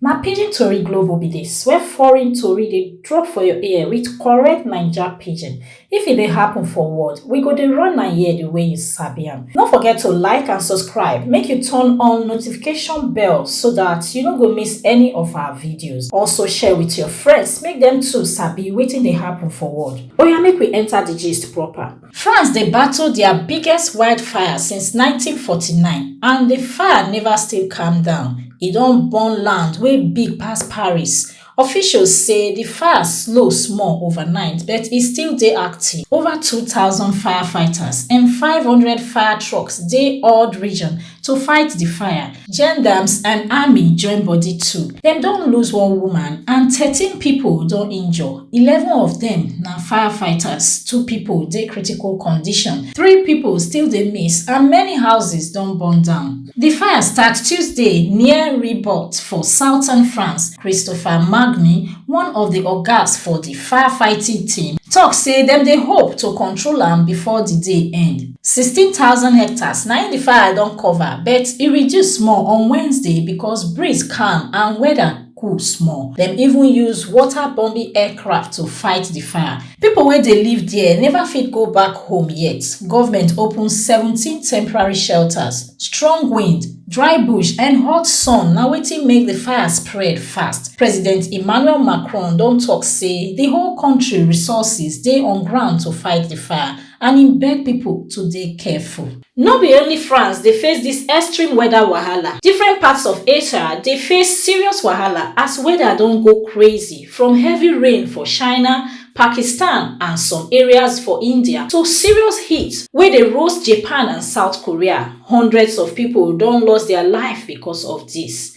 Na pidgin tori glovo be dis where foreign tori dey drop for your ear with correct naija pidgin. If e dey happen for world, we go dey run am here the way you sabi am. No forget to like and subscribe, make you turn on notification bell so that you no go miss any of our videos. Also share with your friends make dem too sabi wetin dey happen for world. Oya make we enter the gist proper. France dey battle dia biggest wildfire since 1949 and di fire neva still calm down, e don burn land wey big pass Paris. Officials say di fire slow small overnight but e still dey active. Over 2,000 firefighters and 500 fire trucks dey all di region to fight di fire. Gendarmes and army join body too. Dem don lose one woman and thirteen pipo don injure, eleven of dem na firefighters, two pipo dey critical condition, three pipo still dey miss and many houses don burn down. Di fire start Tuesday near Ribot for southern France. Christopher Magny, one of di ogas for di firefighting team, tok say dem dey hope to control am before di day end. sixteen thousand hectares na im the fire don cover but e reduce small on wednesday because breeze calm and weather cool small dem even use water bombing aircraft to fight the fire people wey dey live there never fit go back home yet government open seventeen temporary shelters strong wind dry bush and hot sun na wetin make the fire spread fast president emmanuel macron don talk say the whole country resources dey on ground to fight the fire and im beg pipo to dey careful. No be only France dey face dis extreme weather wahala, different parts of Asia dey face serious wahala as weather don go crazy, from heavy rain for China, Pakistan and some areas for India to serious heat wey dey roast Japan and South Korea. Hundreds of pipo don lost dia life becos of dis.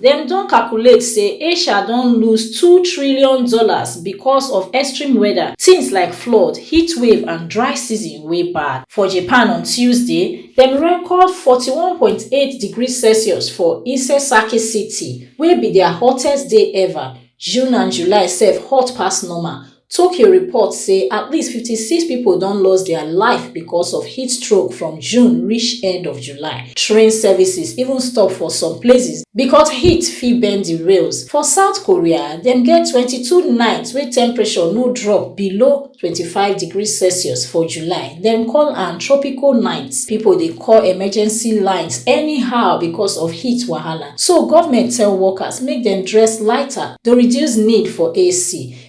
Dem don calculate say Asia don lose two trillion dollars because of extreme weather, things like flood, heatwave and dry season wey bad. For Japan on Tuesday, dem record forty one point eight degrees Celsius for Isesaki City, wey be dia hottest day ever. June and July sef hot pass normal, tokyo report say at least 56 pipo don lost dia life becos of heatstroke from june reach end of july train services even stop for some places becos heat fit bend di rails for south korea dem get 22 nights wey temperature no drop below 25 degrees celsius for july dem call am tropical nights pipo dey call emergency lines anyhow becos of heat wahala so goment tell workers make dem dress lighter to reduce need for ac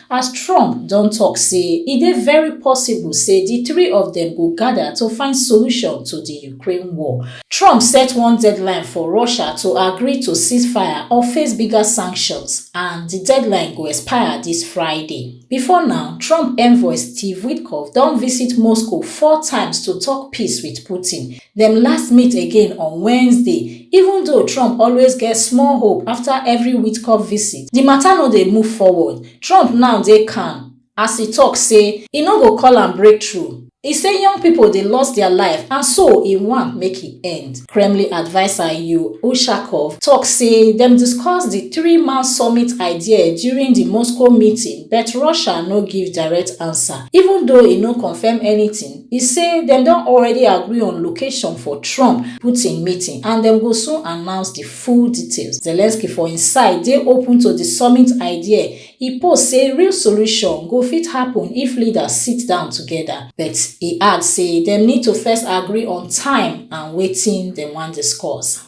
as trump don tok say e dey very possible say di three of dem go gada to find solution to di ukraine war. trump set one deadline for russia to agree to ceasefire or face bigger sanctions and di deadline go expire dis friday. bifor now trump envoy steve witkoff don visit moscow four times to tok peace wit putin. dem last meet again on wednesday even though trump always get small hope after every witkoff visit di mata no dey move forward trump now dey calm as e tok say e no go call am breakthrough e say young pipo dey lost dia life and so e want make e end kremlin adviser yuri ushakov tok say dem discuss di threeman summit idea during di moscow meeting but russia no give direct answer even though e no confam anytin E say dem don already agree on location for Trump, Putin meeting and dem go soon announce di full details. Zelensky for im side dey open to di summit idea, e post say real solution go fit happun if leaders sit down togeda, but e add say dem need to first agree on time and wetin dem wan discuss.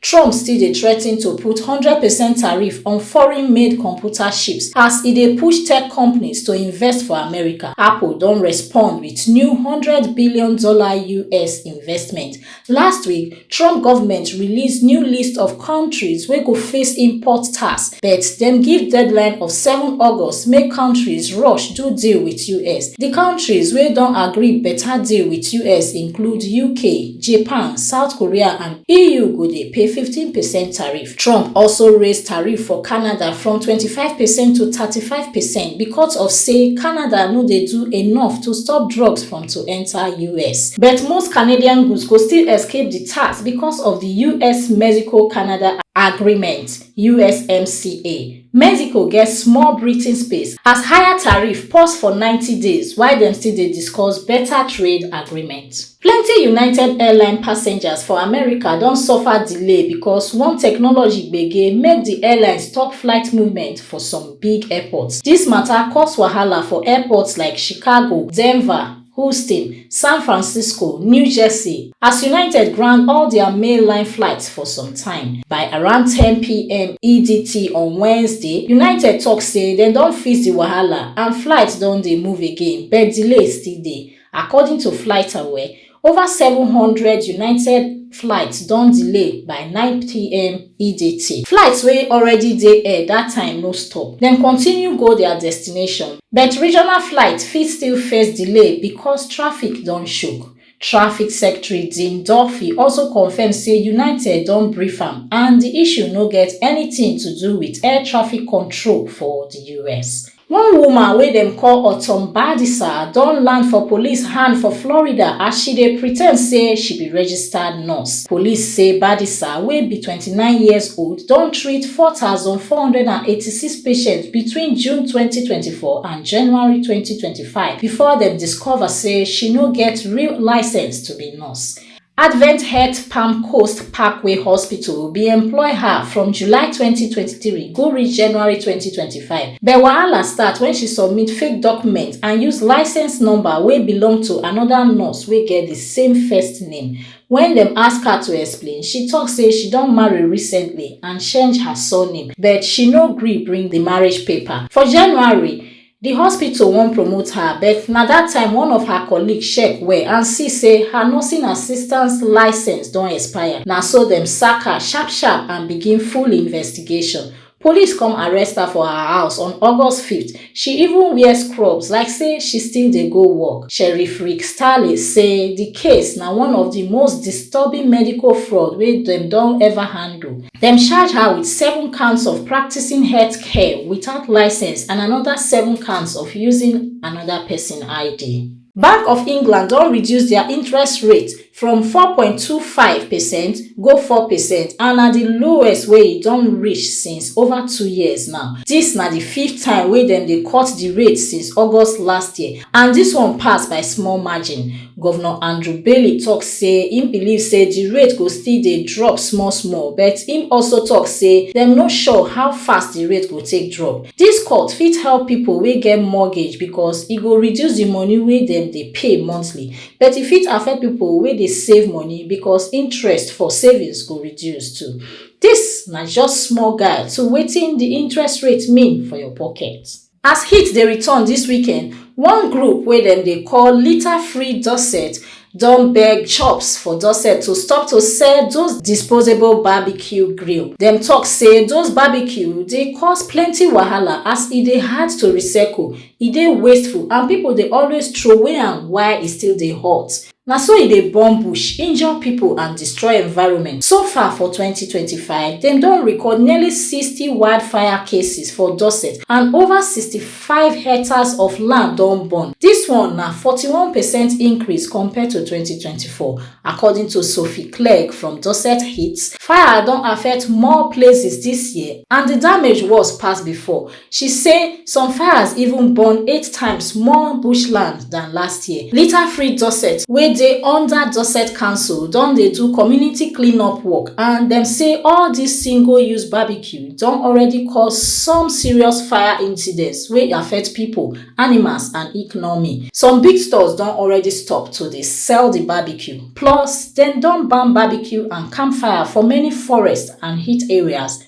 Trump still dey threaten to put hundred percent tariff on foreign-made computer chips as e dey push tech companies to invest for America. Apple don respond with new one hundred billion dollar us investment. Last week, Trump government release new list of countries wey go face import tax, but dem give deadline of seven August make countries rush do deal with us. Di countries wey don agree better deal with us include UK, Japan, South Korea and. eu go dey pay 15 percent tariff trump also raise tariff for canada from 25 percent to 35 percent becos of say canada no dey do enough to stop drugs from to enta us but most canadian goods go still escape di tax becos of di us-mexico-canada agreement. USMCA, Mexico get small breathing space as higher tariff pause for 90 days while dem still dey discuss better trade agreement. Plenty United Airline passengers for America don suffer delay because one technology gbege make the airline stop flight movement for some big airports. This matter cause wahala for airports like Chicago, Denver, Houston, San Francisco, New Jersey, as United ground all dia main line flights for some time. By around 10pm EDT on Wednesday, United tok say dem don fix di wahala and flights don dey move again but delays still dey. According to FlightAware, ova 700 United flights don delay by 9pm. edt. Flights wey already dey air dat time no stop, dem continue go dia destination. But regional flights fit still face delay becos traffic don choke. Traffic Secretary Dean Duffy also confirm say United don brief am and di issue no get anytin to do wit air traffic control for di us. One woman wey dem call Autumn Badisa don land for police hand for Florida as she dey pretend say she be registered nurse. Police say Badisa, wey be twenty nine years old, don treat four four thousand hundred and eighty six patients between June twenty twenty four and January twenty twenty five before dem discover say she no get real licence to be nurse. Advent Health Palm Coast Parkway Hospital bin employ her from July 2023 go reach January 2025, but wahala start wen she submit fake documents and use licence number wey belong to anoda nurse wey get di same first name. Wen dem ask her to explain, she tok say she don marry recently and change her surname, but she no gree bring di marriage paper. For January, di hospital wan promote her but na dat time one of her colleague check well and see say her nursing assistant licence don expire na so dem sack her sharp sharp and begin full investigation police come arrest her for her house on august five th she even wear scrubs like say she still dey go work sheriff rick starley say di case na one of di most disturbing medical fraud wey dem don ever handle Dem charge her wit seven counts of practising healthcare without licence and anoda seven counts of using anoda pesin ID. Bank of England don reduce dia interest rate from four point two five percent go four percent and na di lowest wey e don reach since over two years now. Dis na di fifth time wey dem dey cut di rate since August last year and dis one pass by small margin. govnor andrew bailey tok say im believe say di rate go still dey drop small small but im also tok say dem no sure how fast di rate go take drop dis cut fit help pipo wey get mortgage becos e go reduce di moni wey dem dey pay monthly but e fit affect pipo wey dey save moni becos interest for savings go reduce too dis na just small guide to wetin di interest rate mean for your pocket As heat dey return dis weekend, one group wey dem dey call Litter Free Dorset don beg shops for Dorset to stop to sell those disposable barbecue grill. Dem talk say those barbecue dey cause plenty wahala as e dey hard to recycle, e dey wasteful and people dey always throway am while e still dey hot. Na so e dey burn bush, injure pipo and destroy environment. So far for twenty twenty five, dem don record nearly sixty wildfire cases for Dorset and over sixty five hectares of land don burn. Dis one na forty one percent increase compared to twenty twenty four, according to Sophie Clegg from Dorset Heat. Fire don affect more places dis year and di damage worse pass before. She say some fires even burn eight times more bush land dan last year. Litter Free Dorset wey dey under Dorset Council don dey do community clean up work and dem say all dis single use barbecue don already cause some serious fire incidents wey affect pipo, animals and economy. Some big stores don already stop to dey sell di barbecue plus dem don ban barbecue and campfire for many forest and heat areas.